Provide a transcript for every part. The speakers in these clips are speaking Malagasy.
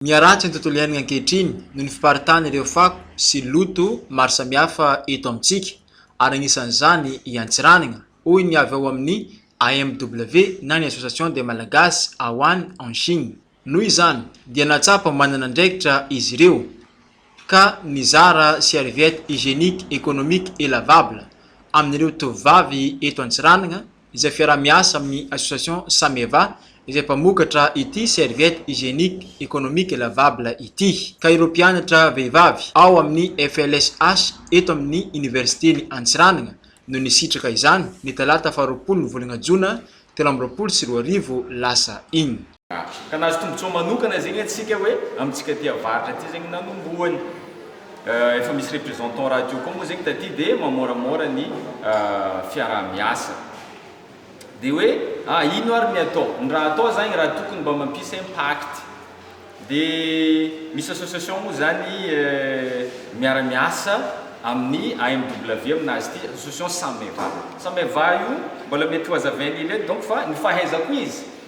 Miharatsy ny tontolo iainana ankehitriny noho ny fiparitana ireo fako sy loto maro samihafa eto amintsika ary anisan'izany i Antsiranana, hoy ny avy ao amin'ny AMW na ny Association des Malagasy Awan en Chine. Noho izany dia nahatsapa manana andraikitra izy ireo ka nizara serviette hygienique économique et lavable amin'ireo tovovavy eto Antsiranana izay fiaraha-miasa amin'ny Association Sameva izay mpamokatra ity serviette hygiénique économique lavable ity, ka ireo mpianatra vehivavy ao amin'ny FLSH eto amin'ny Oniversiten'i Antsiranana no nisitraka izany, ny talata faharoapolo volana jona telo amby roapolo sy roa arivo lasa iny. varotra. Ka nahazo tombotsoa manokana zegny antsika hoe amintsika ty avaratra ty zegny nanombohany. Efa misy représentant radio koa moa zegny taty de mamoramora ny fiarahamiasa. De hoe a ino ary ny atao? Ny raha atao zagny raha tokony mba mampisy impact de misy association moa zany miaramiasa amin'ny AMW amina azy ty, association Sameva. Sameva io mbola mety ho hazavainy eto donc fa ny fahaizako izy,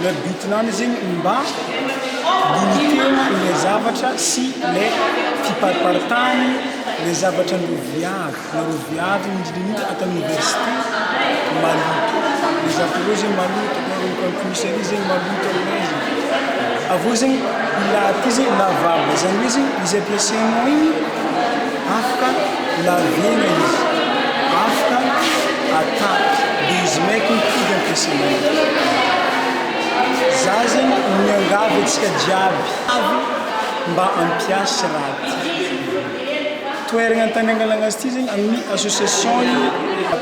Ilay but nany zegny mba limiter-na ilay zavatra sy le fipariparitany le zavatra noviavy na roviavy indrindraindrindra ato amin'ny université maloto le zavatra ireo zegny maloto na ny conclusion-dry zegny maloto aminay zegny avy eo zegny io lahaty io zegny lavaliny zany hoe zegny izy ampiasainao igny Afaka laviana izy, afaka atapy dia izy maika mifidy ampiasaina izy. Za zegny miangavy antsika jiaby avy mba ampiasy raha ty toeragna tany angalagna azy ty zegny amin'ny association ny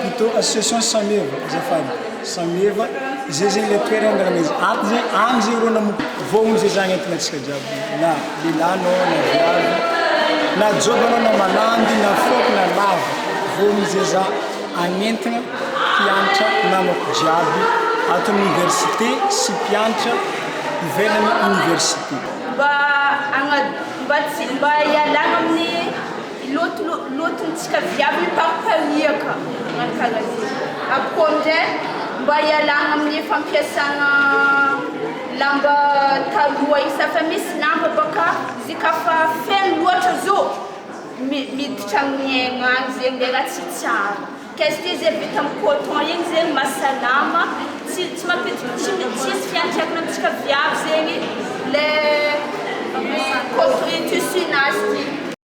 plutôt association sameva azafady sameva zay zegny le toeragna angalagna izy ato zegny any zegny rô nanomboka vao amizay za nentina antsika jiaby na. Lehilahy anao na viavy, na joba anao na malandy na fohy na lava, voan'ny zeza hanentana mpiantra namako jiaby ato amin'ny oniversite sy mpiantra ivelan'ny oniversite. Mba hagna, mba tsy, mba hialagna amin'ny loto, lotontsika jiaby mipampipaniaka, magnano karaha zegny, avy koa amin'izay mba hialagna amin'ny fampiasagna. Lamba taloha isa fa misy lamba baka izy ka fa feno loatra zo miditra amin'ny aigna any zegny le raha tsy tsara ka izy ty ze vita amin'ny coton igny zegny mahasalama tsy tsy mampidi- tsy mi- tsy misy fiantraikany amintsika viavy zegny le coton- tissu nazy ty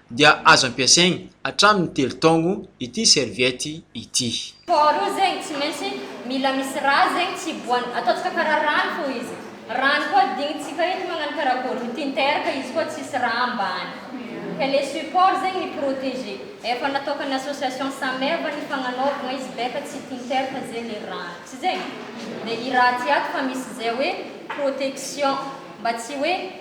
dia azo ampiasaigny hatramin'ny telo taogno ity serviette ity. Faharoa zegny tsy maintsy mila misy rà zegny tsy hiboahany, ataontsika karaha rano fô izy, rano koa adinontsika eto magnano karakôry, ny tinter ka izy koa tsisy rà ambany, ka le support zegny mi proteger, efa nataokan'ny association Sameva ny fagnanaovagna izy beka tsy tinter fa ze le rano, tsy zegny? de i rà ty ato fa misy ze hoe protection mba tsy hoe.